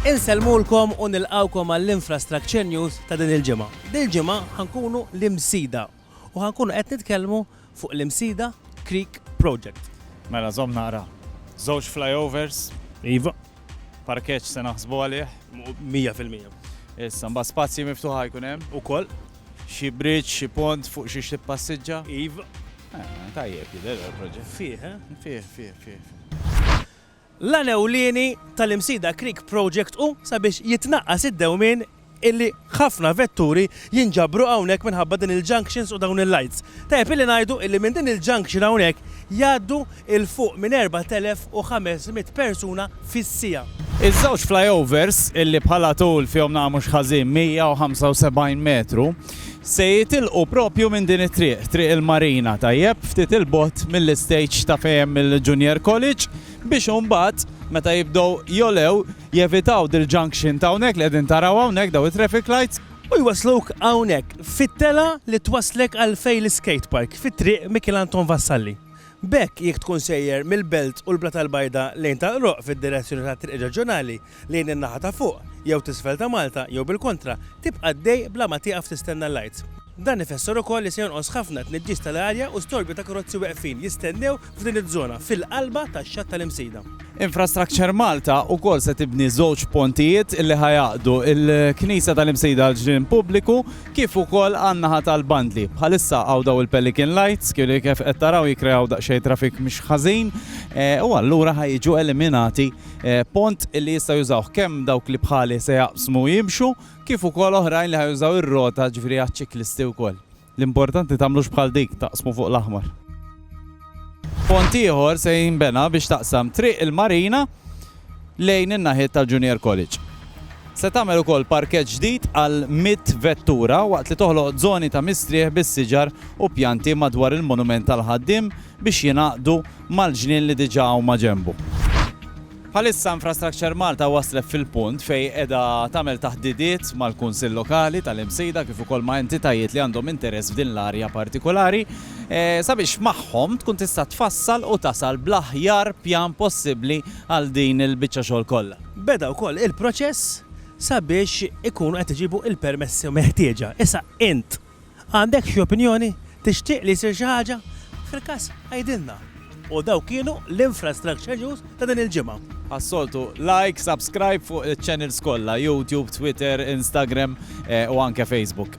Insellmulkom u nilqgħukom għall-Infrastructure News ta' din il-ġimgħa. Dil-ġimgħa ħankunu l-Imsida u ħankunu qed nitkellmu fuq l-Imsida Creek Project. Mela żomm naqra. Żewġ flyovers. Iva. Parkeġġ se naħsbu għalih. Mija fil-mija. Issa mbagħad spazji miftuħa jkun hemm. Ukoll. Xi bridge, xi pont fuq xiex tippassiġġa? Iv. Tajjeb jidher il-proġett. Fih, eh? Fih, fih, fih. L-għan ewlieni tal-Imsida Creek Project hu sabiex jitnaqqas id-dewmien illi ħafna vetturi jinġabru hawnhekk minħabba din il-junctions u dawn il-lights. Tajjeb illi ngħidu illi minn din il-junction hawnhekk jgħaddu 'il fuq minn 4,500 persuna fis-siegħa. Iż-żewġ flyovers, illi bħala tul fihom naqra mhux ħażin 175 metru, se jitilqu proprju minn din it-triq, Triq il-Marina, tajjeb ftit 'il bogħod mill-istage ta' fejn hemm il-Junior College, biex imbagħad, meta jibdew jogħlew, jevitaw dil-junction ta' hawnhekk li qegħdin taraw hawnhekk, dawn it-traffic lights, u jwassluk hawnhekk fit-telgħa li twasslek għal fejn l-iskate park, fi Triq Mikiel Anton Vassalli, B'hekk, jekk tkun sejjer mill-Belt u l-Blata l-Bajda lejn Tal-Qroq fid-direzzjoni tat-triq reġjonali lejn in-naħa ta' fuq jew t'isfel ta' Malta jew bil-kontra, tibqa' għaddej bla ma tieqaf tistenna l-lights. Dan ifisser ukoll li se jonqos ħafna t-tniġġis tal-arja u storbju ta' karozzi weqfin jistennew f'din iż-żona fil-qalba tax-xatt tal-Imsida. Infrastructure Malta wkoll se tibni żewġ pontijiet li ħa jgħaqqdu l-Knisja tal-Imsejda għall-Ġnien Pubbliku kif ukoll għan-naħa tal-bandli. Bħalissa hawn dawn il-pelican lights li kif qed taraw jikkreaw daqsxejn traffic mhux ħażin u allura ħa jiġu eliminati pont li jistgħu jużawh kemm dawk li bħali se jaqsmu u jimxu kif ukoll oħrajn li ħa jużaw ir-rota ġifieri għaċ-ċiklisti wkoll. L-importanti tagħmlux bħal dik, taqsmu fuq l-aħmar. Pont ieħor se jinbena biex taqsam Triq il-Marina lejn in-naħiet tal-Junior College. Se tagħmel ukoll parkeġġ ġdid għal 100 vettura waqt li toħloq żoni ta' mistrieħ bis-siġar u pjanti madwar il-monument tal-ħaddiem biex jingħaqdu mal-ġnien li diġà huma ġenbu. Bħalissa Infrastructure Malta waslet fil-punt fejn qiegħda tagħmel taħdidiet mal-Kunsill Lokali tal-Imsida kif ukoll ma' entitajiet li għandhom interess f'din l-arja partikulari sabiex magħhom tkun tista' tfassal u tasal bl-aħjar pjan possibbli għal din il-biċċa xogħol kollha. Beda wkoll il-proċess sabiex ikunu qed iġibu l-permessi meħtieġa. Issa int! Għandek xi opinjoni? Tixtieq li jsir xi ħaġa? Fil-każ, għidilna! U dawk kienu l-Infrastructure News ta' din il-ġimgħa. Bħas-soltu, like, subscribe fuq iċ-channels kollha, YouTube, Twitter, Instagram u anke Facebook.